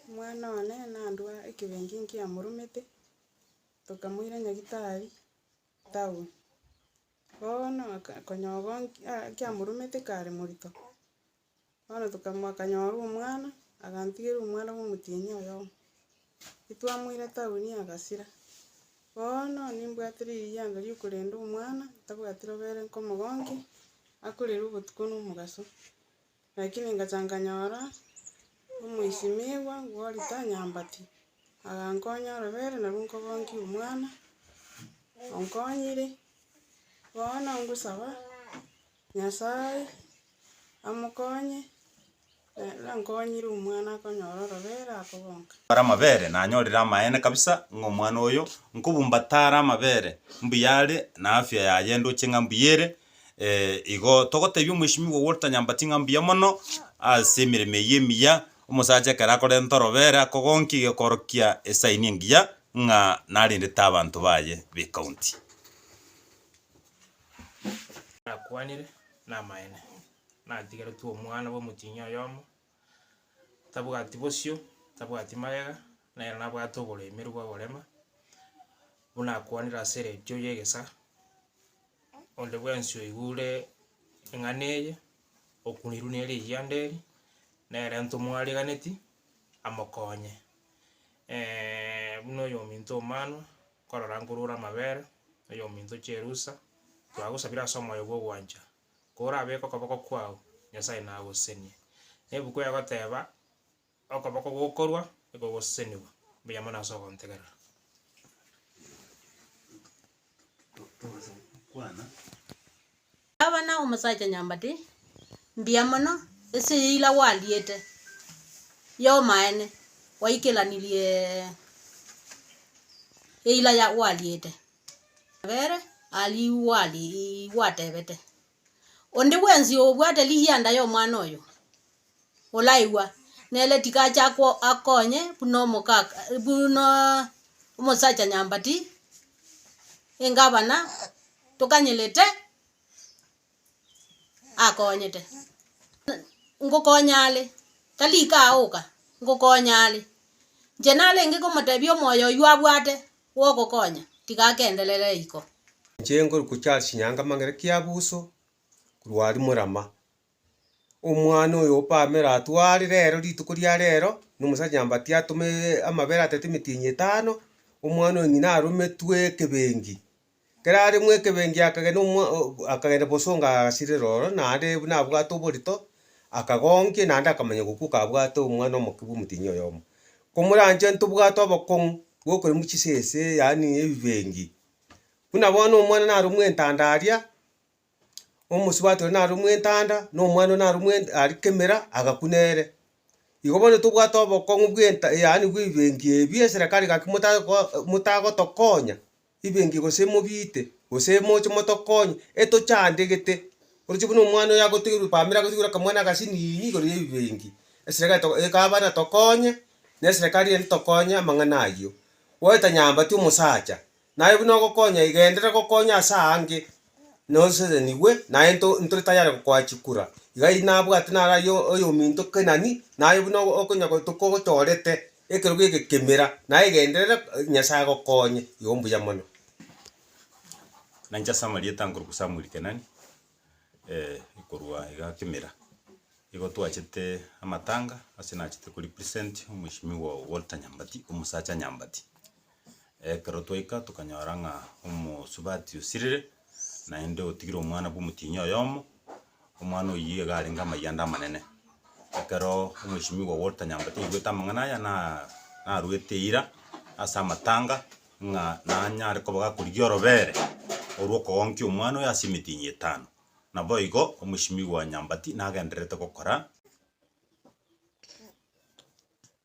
Omwana one nandua ekebenki nkiamoromete, tokamoira Nyagetari town. Bono aka- konyoba nki- a- nkiamoromete kare morito, bono tokamo- akanyora omwana, agantigera omwana bwa omotienyi oyomo. Titwamoira town agasira, bono nimbwate ririanga riokorenda omwana, ntabwati robere nkomogonkia, akorera obotuko na omogaso. Lakini ngacha nkanyora omoisimigwa gw'orita nyambati, agankonya orobere nario nkogonkia omwana, onkonyire, bono ngosaba Nyasae amokonye, naende ankonyire omwana akonyora orobere akogonka. Are amabere, nanyorire amaene kabisa ng'a omwana oyo, nkobumbatare amabere, mbuya are, na afya yaye ndoche ng'a mbuya ere, Ee, igo togoteebia Omwesimigwa Walter Nyambati ng'a mbuya mono ase emeremo eyio emiya. Omosacha ekero akorenta orobera akogonkia gekoorokia esaini engiya ng'a narendete abanto baye b'ecounty. Nakwanire namaene, natigeretwe omwana bw'omotienyi oyomo, tabwati bosio, tabwati magega, nere nabwate oboremeru bw'ogorema, buna akwanire ase eredio y'egesaa, onde bwensi oigure eng'ana eye, okunirwe ne rigianda eri, nere ntomwariganeti, amokonye. buna oyominto omano, nkorora nkorure amabere, oyominto chierusa, twagosabire ase omoyo bw'ogwancha. Korabeke okoboko kwao, Nyasae nagosesenie. Nebuku egoteba, Okoboko gokorwa nikogosesenigwa, mbuya mono ase ogontegerera. Abana omosacha nyambati, mbuya mono ase eyira gwariete yomaene, gwaikeranirie eyira gwariete. Kabere arigwa atebete, Onde bwensi obwate rigianda y'omwana oyo, oraigwa, nere tiga ache akonye buna omoka buna omosacha nyambati, engabana tokanyerete akonyete. Ngokonya are, tari kaoka, ngokonya are. Inche narenge komotebia omoyo oywo abwate. bw'ogokonya, tiga agenderere iko. Chengoru kochia ase chinyanga amang'ere kiabuso korwa aria morama. Omwana oyo opamera atware rero rituko ria rero na omosacha nyambati atome amabere atete emetienyi etano, omwana oyo ng'ina arometwe ekebengi Ekero are mw'ekebengi akagena omwa akagenda bosongo agasirera ororo, naende buna abwate oborito, akagonkia, naende akamanya gokwa kabwate omwana omoke bw'omotienyi oyomo. Komoranche ntobwate obokong'u bw'okoremwa chisese yaani ebibengi. Buna bono omwana naro mw'entanda aria, omosubati oria naro mw'entanda, na omwana oria naro mw'ent ari kemera agakwa nere. Igo bono tobwate obokong'u bw'enta yaani bw'ebibengi ebi eserekari gaki motari goa motagotokonya. Ibenki gose mobiite, gose moche motokonye, etochandegete. Oroche buna omwana oyo agotegerwe family agotegerwe akamwana agasinini igoro y'ebibenki, esere egabana tokonye, na eserekari ende tokonye amang'ana ayio. Goeta nyambati omosacha, naye buna ogokonya iga enderere gokonya ase aange, nosesenigwe naye nto ntore tayari gokoa chikura. Iga nabwate naro ayio oyominto kenani, naye buna okonya gotuko ogochorete, Ekerogo eke kemera, na egenderere, Nyasae agokonye. Igo mbuya mono. Nainche ase amarieta nkorokwa Samuel Kenani, korwa iga Kimira, nigo twachete amatanga ase nachete ko represent Mweshimiwa Walter Nyambati, omosacha Nyambati. Ekero twaika tokanyora ng'a omosubati osirire, naende otigire omwana bw'omotienyi oyomo, omwana oyio iga arenge amayia ande amanene. Ekero omwesimigwa o Walter Nyambati aigwete amang'ana aya na narwete eira ase amatanga ng'a nanyare koba gakorigia orobere orwo okogonkia omwana oyo ase emetienyi etano. Naboigo omwesimigwa Nyambati nagendererete gokora.